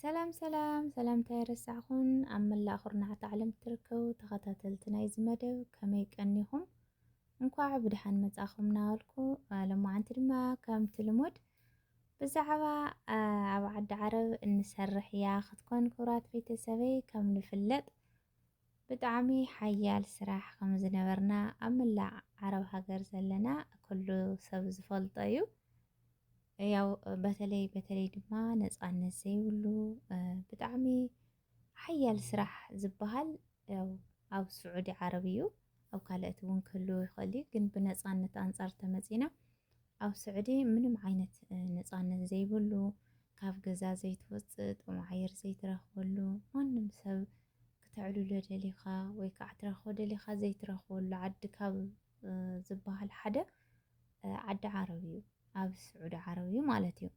ሰላም ሰላም ሰላምታ የረሳዕኹን ኣብ መላእ ኩርናዓት ዓለም እትርከቡ ተኸታተልቲ ናይዚ መደብ ከመይ ቀኒኹም እንኳዕ ብድሓን መጻኹም ናበልኩ ሎማዓንቲ ድማ ከምቲ ልሙድ ብዛዕባ ኣብ ዓዲ ዓረብ እንሰርሕ እያ ክትኮን ክብራት ቤተሰበይ ከም ንፍለጥ ብጣዕሚ ሓያል ስራሕ ከም ዝነበርና ኣብ መላእ ዓረብ ሃገር ዘለና ኩሉ ሰብ ዝፈልጦ እዩ። ያው በተለይ በተለይ ድማ ነፃነት ዘይብሉ ብጣዕሚ ሓያል ስራሕ ዝበሃል ያው ኣብ ስዑዲ ዓረብ እዩ። ኣብ ካልኦት እውን ክህልው ይኽእል እዩ ግን ብነፃነት ኣንፃር ተመፂና ኣብ ስዑዲ ምንም ዓይነት ነጻነት ዘይብሉ ካብ ገዛ ዘይትወጽእ ጥዑም ኣየር ዘይትረኽበሉ ማንም ሰብ ክተዕልሎ ደሊኻ ወይ ከዓ ትረኽቦ ደሊኻ ዘይትረኽበሉ ዓዲ ካብ ዝበሃል ሓደ ዓዲ ዓረብ እዩ ኣብ ስዑዲ ዓረብ እዩ ማለት እዩ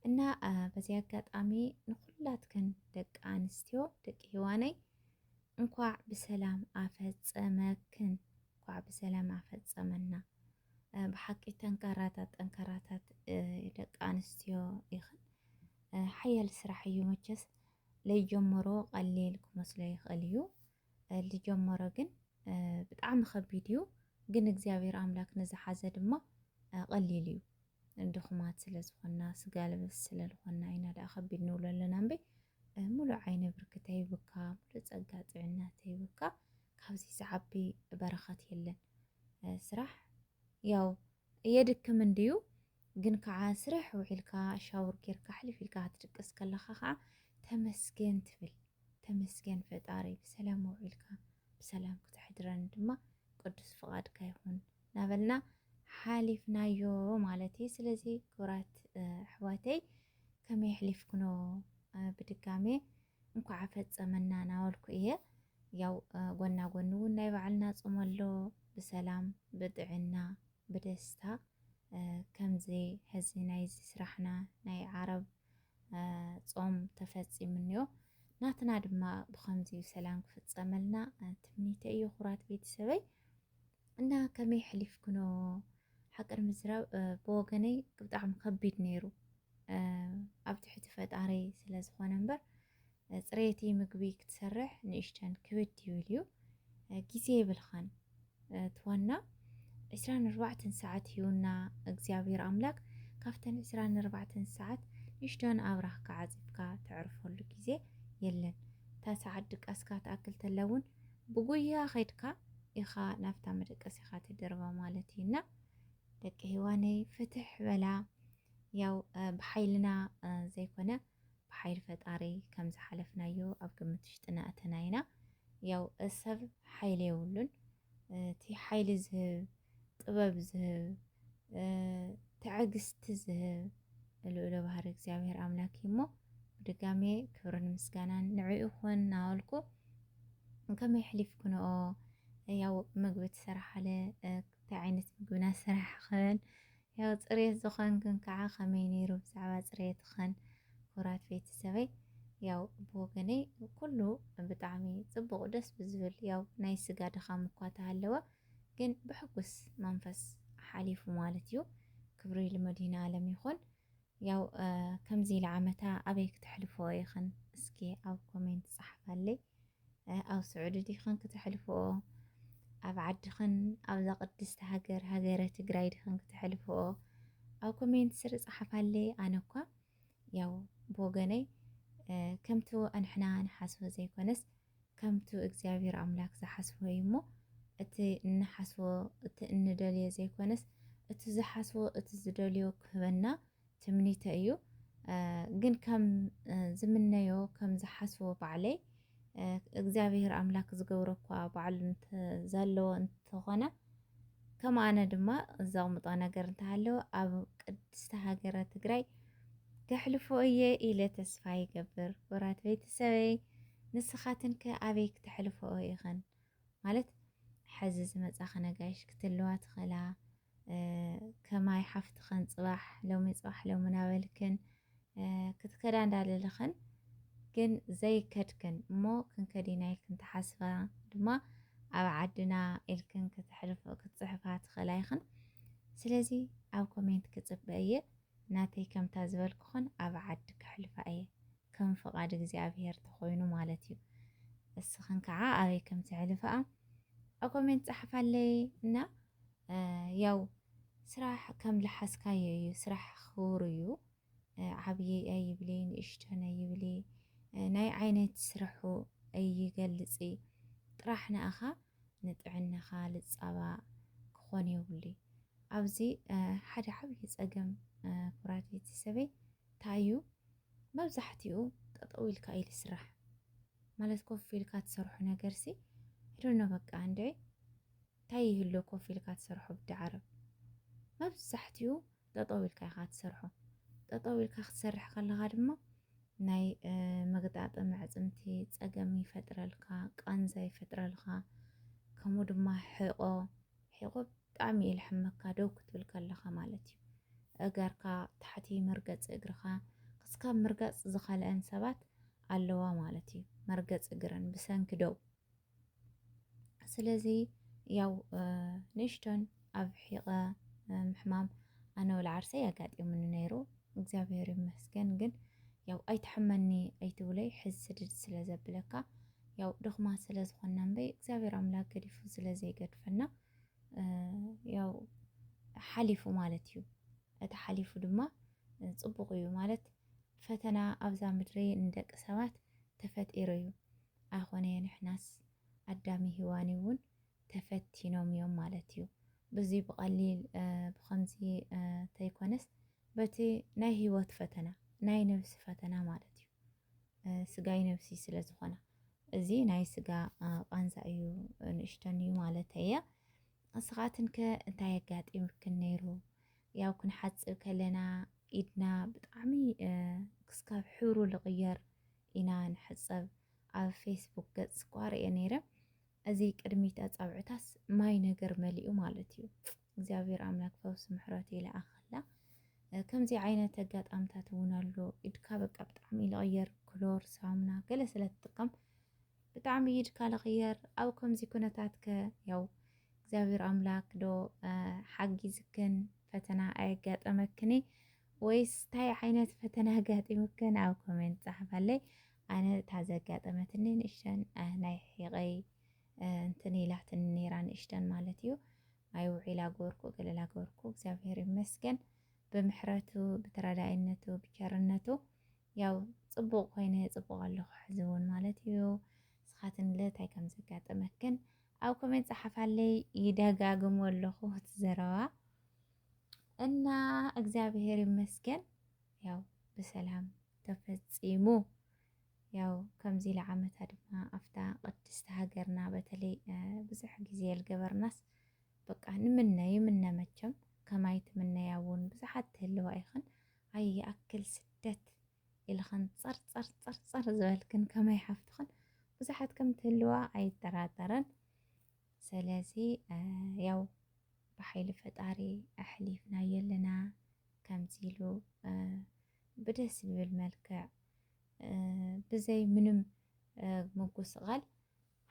እና በዚ ኣጋጣሚ ንኩላትክን ደቂ ኣንስትዮ ደቂ ሂዋነይ እንኳዕ ብሰላም ኣፈፀመክን እንኳዕ ብሰላም ኣፈፀመና። ብሓቂ ጠንካራታት ጠንካራታት ደቂ ኣንስትዮ ኢኽን። ሓያል ስራሕ እዩ መቸስ ለይጀመሮ ቀሊል ክመስሎ ይኽእል እዩ። ልጀመሮ ግን ብጣዕሚ ከቢድ እዩ ግን እግዚኣብሔር ኣምላክ ንዝሓዘ ድማ ቀሊል እዩ ድኹማት ስለ ዝኾና ስጋ ልበስ ስለ ዝኾና ኢና ደኣ ከቢድ ንብሎ ኣለና እምበይ ሙሉእ ዓይነ ብርክተ ይብካ ሙሉእ ጸጋ ጥዕና ተይብካ ካብዚ ዝዓቢ በረኸት የለን ስራሕ ያው የድክም እንድዩ ግን ከዓ ስርሕ ውዒልካ ሻውር ጌርካ ሕልፍ ኢልካ ክትድቅስ ከለኻ ከዓ ተመስገን ትብል ተመስገን ፈጣሪ ብሰላም ኣውዒልካ ብሰላም ክተሕድረኒ ድማ ቅዱስ ፍቃድካ ይኹን ናበልና ሓሊፍናዮ ማለት እዩ ስለዚ ክብራት ኣሕዋተይ ከመይ ኣሕሊፍክኖ ብድጋሜ እንኳዕ ኣፈፀመና ናበልኩ እየ ያው ጎና ጎኒ እውን ናይ ባዕልና ፆም ኣሎ ብሰላም ብጥዕና ብደስታ ከምዚ ሕዚ ናይዚ ስራሕና ናይ ዓረብ ፆም ተፈፂሙ እኒኦ ናትና ድማ ብከምዚ ሰላም ክፍፀመልና ትምኒተ እዩ ኩራት ቤተሰበይ እና ከመይ ሕሊፍክኖ ሓቅር ምዝራብ ብወገነይ ብጣዕሚ ከቢድ ነይሩ ኣብ ትሕቲ ፈጣሪ ስለ ዝኾነ እምበር ፅሬቲ ምግቢ ክትሰርሕ ንእሽተን ክብድ ይብል እዩ ግዜ የብልኻን ትዋና ዕስራን ኣርባዕተን ሰዓት ሂውና እግዚኣብሔር ኣምላክ ካብተን ዕስራን ኣርባዕተን ሰዓት ንእሽተን ኣብራህካ ዓፂፍካ ተዕርፈሉ ግዜ የለን እታ ሰዓት ድቃስካ ትኣክል ተላ እውን ብጉያ ኸድካ ኢኻ ናብታ መደቀሲኻ ትድርባ ማለት እዩና ደቂ ሂዋነይ ፍትሕ በላ ያው ብሓይልና ዘይኮነ ብሓይል ፈጣሪ ከም ዝሓለፍናዮ ኣብ ግምት ውሽጢ እናእተና ኢና። ያው ሰብ ሓይሊ የብሉን እቲ ሓይሊ ዝህብ ጥበብ ዝህብ ትዕግስቲ ዝህብ ልዑለ ባህሪ እግዚኣብሔር ኣምላክ እዩ እሞ ብድጋሜ ክብርን ምስጋናን ንዑ ይኹን ናበልኩ ከመይ ሕሊፍክንኦ ያው ምግቢ ትሰርሓለ እንታይ ዓይነት ምግብና ስራሕኽን ያው ፅሬት ዝኾን ግን ከዓ ከመይ ነይሩ ብዛዕባ ፅሬትኽን ኩራት ቤተሰበይ ያው ብወገነይ ኩሉ ብጣዕሚ ፅቡቕ ደስ ብዝብል ያው ናይ ስጋ ድኻም እኳ ተሃለወ ግን ብሕጉስ መንፈስ ሓሊፉ ማለት እዩ ክብሪ ልመድሂና ኣለም ይኹን ያው ከምዚ ኢለ ዓመታ ኣበይ ክተሕልፍኦ ኢኽን እስኪ ኣብ ኮሜንት ጸሓፋለይ ኣብ ስዑዲ ዲኽን ክተሕልፍኦ ኣብ ዓድኽን ኣብዛ ቅድስቲ ሃገር ሃገረ ትግራይ ዲኽን ክተሕልፍኦ ኣብ ኮሜንት ስር ጸሓፋለይ ኣነ እኳ ያው ብወገነይ ከምቲ ኣንሕና ንሓስቦ ዘይኮነስ ከምቱ እግዚኣብሔር ኣምላክ ዝሓስቦ እዩ እሞ እቲ እንሓስቦ እቲ እንደልዮ ዘይኮነስ እቲ ዝሓስቦ እቲ ዝደልዮ ክህበና ትምኒተ እዩ ግን ከም ዝምነዮ ከም ዝሓስቦ ባዕለይ እግዚኣብሔር ኣምላክ ዝገብሮ እኳ ባዕሉ እንተ ዘለዎ እንተኾነ ከም ኣነ ድማ ዘቕምጦ ነገር እንተሃለወ ኣብ ቅድስቲ ሃገረ ትግራይ ከሕልፎ እየ ኢለ ተስፋ ይገብር። ክቡራት ቤተሰበይ ንስኻትን ከ ኣበይ ክተሕልፈኦ ኢኽን ማለት ሕዚ ዝመፃ ክነጋይሽ ክትለዋ ትኽእላ ከማይ ሓፍትኽን ፅባሕ ሎሚ ፅባሕ ሎሚ ናበልክን ክትከዳ እንዳለለኽን ግን ዘይከድክን እሞ ክንከድ ኢና ኢልክን ትሓስባ ድማ ኣብ ዓድና ኢልክን ክትሕልፎ ክትጽሕፋ ትኽእላ ኢኽን ስለዚ ኣብ ኮሜንት ክጽበ እየ ናተይ ከምታ ዝበልኩኽን ኣብ ዓዲ ክሕልፋ እየ ከም ፍቓድ እግዚኣብሄር ተኾይኑ ማለት እዩ እስኽን ከዓ ኣበይ ከም ትሕልፋኣ ኣብ ኮሜንት ጸሓፋለይ እና ያው ስራሕ ከም ልሓስካዮ እዩ ስራሕ ክቡር እዩ ዓብዪ ኣይብሊ ንእሽቶን ኣይብሊ ናይ ዓይነት ስርሑ ኣይገልፂ ጥራሕ ንኣኻ ንጥዕናኻ ልፃባ ክኾን የብሉይ ኣብዚ ሓደ ዓብዪ ፀገም ኩራት ቤተሰበይ እንታይ እዩ መብዛሕትኡ ጠጠው ኢልካ እዩ ልስራሕ ማለት ኮፍ ኢልካ ትሰርሖ ነገርሲ ዶኖ በቃ እንደ ታይ ይህሉ ኮፍ ኢልካ ትሰርሖ ብዲ ዓረብ መብዛሕቲኡ ጠጠው ኢልካ ኢኻ ትሰርሖ ጠጠው ኢልካ ክትሰርሕ ከለኻ ድማ ናይ መግጣጠሚ ኣዕፅምቲ ፀገም ይፈጥረልካ ቃንዛ ይፈጥረልካ ከምኡ ድማ ሕቆ ሕቆ ብጣዕሚ እዩ ልሕመካ ደው ክትብል ከለኻ ማለት እዩ እገርካ ታሕቲ መርገፂ እግርኻ ክስካብ ምርጋፅ ዝኸለአን ሰባት ኣለዋ ማለት እዩ መርገፂ እግረን ብሰንኪ ደው ስለዚ ያው ንእሽቶን ኣብ ሒቐ ምሕማም ኣነ ወላ ዓርሰይ ኣጋጢሙኒ ነይሩ እግዚኣብሔር ይመስገን። ግን ያው ኣይትሐመኒ ኣይትብለይ ሕዝ ስድድ ስለ ዘብለካ ያው ድኽማት ስለ ዝኾና እምበይ እግዚኣብሔር ኣምላክ ገዲፉ ስለ ዘይገድፈና ያው ሓሊፉ ማለት እዩ። እቲ ሓሊፉ ድማ ፅቡቕ እዩ ማለት ፈተና ኣብዛ ምድሪ ንደቂ ሰባት ተፈጢሩ እዩ። ኣይኾነየ ንሕናስ ኣዳሚ ሂዋኒ ውን ተፈቲኖም እዮም ማለት እዩ ብዙይ ብቀሊል ብከምዚ ተይኮነስ በቲ ናይ ሂወት ፈተና ናይ ነብሲ ፈተና ማለት እዩ ስጋይ ነብሲይ ስለ ዝኾና እዚ ናይ ስጋ ቃንዛ እዩ ንእሽተን እዩ ማለት እየ እስኻትን ከ እንታይ ኣጋጢምክን ነይሩ ያው ክንሓጽብ ከለና ኢድና ብጣዕሚ ክስካብ ሕብሩ ልቕየር ኢና ንሕጸብ ኣብ ፌስቡክ ገጽ እኳ ርእየ ነይረ እዚ ቅድሚት ኣጻብዕታስ ማይ ነገር መሊኡ ማለት እዩ እግዚኣብሔር ኣምላክ ፈውሲ ምሕረቱ ይልኣኸላ ከምዚ ዓይነት ኣጋጣምታት እውን ኣሎ ኢድካ በቃ ብጣዕሚ ልቕየር ክሎር ሳሙና ገለ ስለ ትጥቀም ብጣዕሚ ኢድካ ልቕየር ኣብ ከምዚ ኩነታት ከ ያው እግዚኣብሔር ኣምላክ ዶ ሓጊዝክን ፈተና ኣየጋጠመክኒ ወይስ ታይ ዓይነት ፈተና ኣጋጢሙክን ኣብ ኮሜንት ፃሓፋለይ ኣነ እታ ዘጋጠመትኒ ንእሽተን ናይ ሒቀይ እንትን ኢላትኒ ነይራ ንእሽተን ማለት እዩ ማይ ውዒላ ጎርኩ ገለላ ጎርኩ እግዚኣብሔር ይመስገን ብምሕረቱ ብተረዳይነቱ ብቸርነቱ ያው ፅቡቅ ኮይነ ፅቡቅ ኣለኹ ሕዚ እውን ማለት እዩ ንስኻትን እንታይ ከም ዘጋጠመክን ኣብ ኮሜንት ፀሓፋለይ ይደጋግሞ ኣለኹ እቲ ዘረባ እና እግዚአብሔር ይመስገን ያው ብሰላም ተፈጺሙ ያው ከምዚ ኢለ ዓመታ ድማ ኣብታ ቅድስቲ ሃገርና በተለይ ብዙሕ ግዜ ልገበርናስ በቃ ንምነ ይምነ መቸም ከማይ ትምነያ እውን ብዙሓት ትህልዋ ኢኽን ኣይ ይኣክል ስደት ኢልኽን ጸርጸር ጸርጸር ዝበልክን ከማይ ሓፍትኽን ብዙሓት ከም ትህልዋ ኣይጠራጠረን ሰለዚ ያው ብሓይሊ ፈጣሪ ኣሕሊፍናዮ ኣለና ከምዚ ኢሉ ብደስ ብብል መልክዕ ብዘይ ምንም ምጉስቓል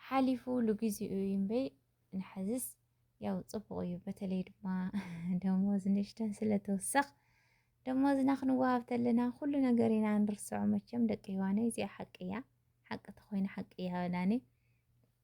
ሓሊፉ ልግዚኡ እዩ እምበይ ንሓዝስ ያው ፅቡቕ እዩ በተለይ ድማ ደሞዝ ንእሽተን ስለተወሰኽ ደሞዝና ክንወሃብ ተለና ኩሉ ነገር ኢና ንርስዖ መቸም ደቂ ህዋነይ እዚኣ ሓቂ እያ ሓቂ ተኮይነ ሓቂ እያ በላኒ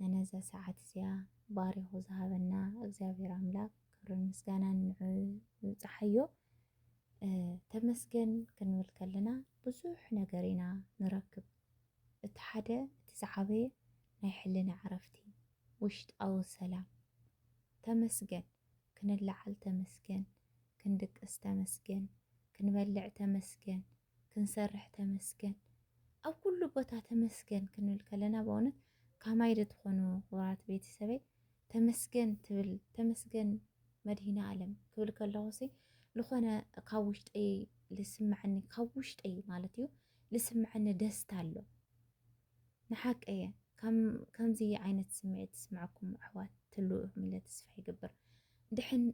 ነነዛ ሰዓት እዚኣ ባሪኹ ዝሃበና እግዚኣብሔር ኣምላክ ክብርን ምስጋናን ንዑ ይብጻሓዮ ተመስገን ክንብል ከለና ብዙሕ ነገር ኢና ንረክብ እቲ ሓደ እቲ ዝዓበየ ናይ ሕልና ዕረፍቲ ውሽጣዊ ሰላም ተመስገን ክንላዓል ተመስገን ክንድቅስ ተመስገን ክንበልዕ ተመስገን ክንሰርሕ ተመስገን ኣብ ኩሉ ቦታ ተመስገን ክንብል ከለና በእውነት ካማይ ዶ ትኾኑ ክቡራት ቤተሰበይ ተመስገን ትብል ተመስገን መድሂነ ኣለም ክብል ከለኹሲ ዝኾነ ካብ ውሽጠይ ልስምዐኒ ካብ ውሽጠይ ማለት እዩ ልስምዐኒ ደስታ ኣሎ። ንሓቂየ ከምዚ ዓይነት ስምዒት ዝስምዐኩም ኣሕዋት ትህልዉ ኢኹም ኢለ ተስፋ ይገብር ድሕን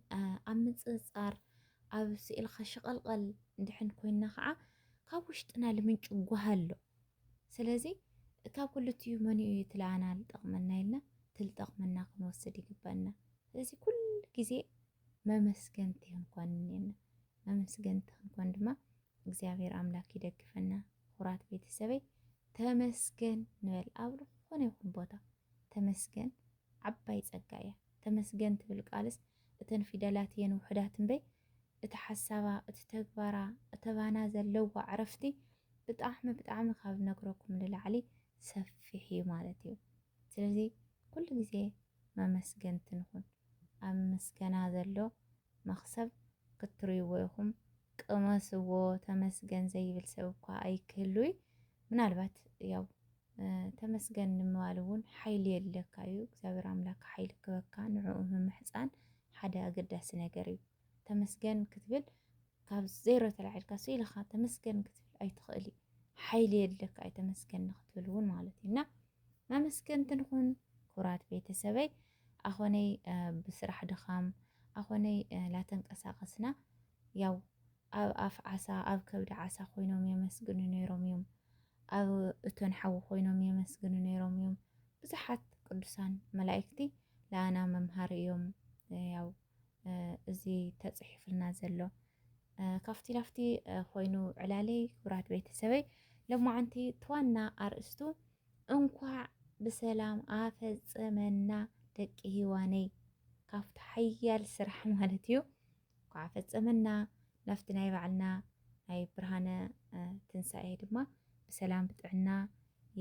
ኣብ ምጽጽጻር ኣብ ስእልኻ ሽቐልቐል ድሕን ኮይና ከዓ ካብ ውሽጥና ልምንጩ ጓህ ኣሎ ስለዚ ካብ ክልቲኡ መንኡ እዩ ትለኣና ልጠቕመና ኢልና ትልጠቕመና ክንወስድ ይግበእና ስለዚ ኩሉ ግዜ መመስገንቲ ክንኮን እኔና መመስገንቲ ክንኮን ድማ እግዚኣብሔር ኣምላክ ይደግፈና ኩራት ቤተሰበይ ተመስገን ንበል ኣብ ዝኾነ ይኹን ቦታ ተመስገን ዓባይ ጸጋ እያ ተመስገን ትብል ቃልስ እተን ፊደላት እየን ውሕዳት እምበይ እቲ ሓሳባ እቲ ተግባራ እተባና ዘለዋ ዕረፍቲ ብጣዕሚ ብጣዕሚ ካብ ነግረኩም ንላዕሊ ሰፊሕ እዩ ማለት እዩ ስለዚ ኩሉ ግዜ መመስገንቲ ንኹን ኣብ ምስገና ዘሎ መኽሰብ ክትርይዎ ኢኹም ቅመስዎ ተመስገን ዘይብል ሰብ እኳ ኣይክህሉይ ምናልባት ያው ተመስገን ንምባል እውን ሓይሊ የድለካ እዩ እግዚኣብሔር ኣምላክ ሓይሊ ክበካ ንዕኡ ምምሕፃን ሓደ ኣገዳሲ ነገር እዩ ተመስገን ክትብል ካብ ዜሮ ተላዒልካ ሱ ኢልኻ ተመስገን ክትብል ኣይትኽእል እዩ ሓይሊ የድለካ እዩ ተመስገን ንክትብል እውን ማለት እዩ እና መመስገንቲ ንኹን ኩራት ቤተሰበይ ኣኾነይ ብስራሕ ድኻም ኣኾነይ ላተንቀሳቀስና ያው ኣብ ኣፍ ዓሳ ኣብ ከብዲ ዓሳ ኮይኖም የመስግኑ ነይሮም እዮም። ኣብ እቶን ሓዊ ኮይኖም የመስግኑ ነይሮም እዮም። ብዙሓት ቅዱሳን መላእክቲ ለኣና መምሃሪ እዮም ያው እዚ ተፅሒፍልና ዘሎ ካብቲ ናፍቲ ኮይኑ ዕላለይ ክብራት ቤተሰበይ ለማዓንቲ ትዋና ኣርእስቱ እንኳዕ ብሰላም ኣፈፀመና ደቂ ሂዋነይ ካብቲ ሓያል ስራሕ ማለት እዩ እንኳዕ ኣፈፀመና ናፍቲ ናይ ባዕልና ናይ ብርሃነ ትንሳኤ ድማ ብሰላም ብጥዕና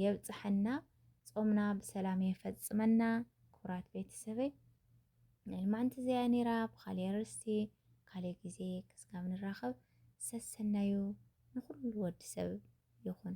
የብፅሐና ፆምና ብሰላም የፈፅመና ክቡራት ቤተሰበይ ናይ ልማዓንቲ እዚኣ እያ ነይራ ብካሊእ ኣርእስቲ ካሊእ ግዜ ክስጋብ ንራከብ ሰሰናዩ ንኩሉ ወዲ ሰብ ይኩን።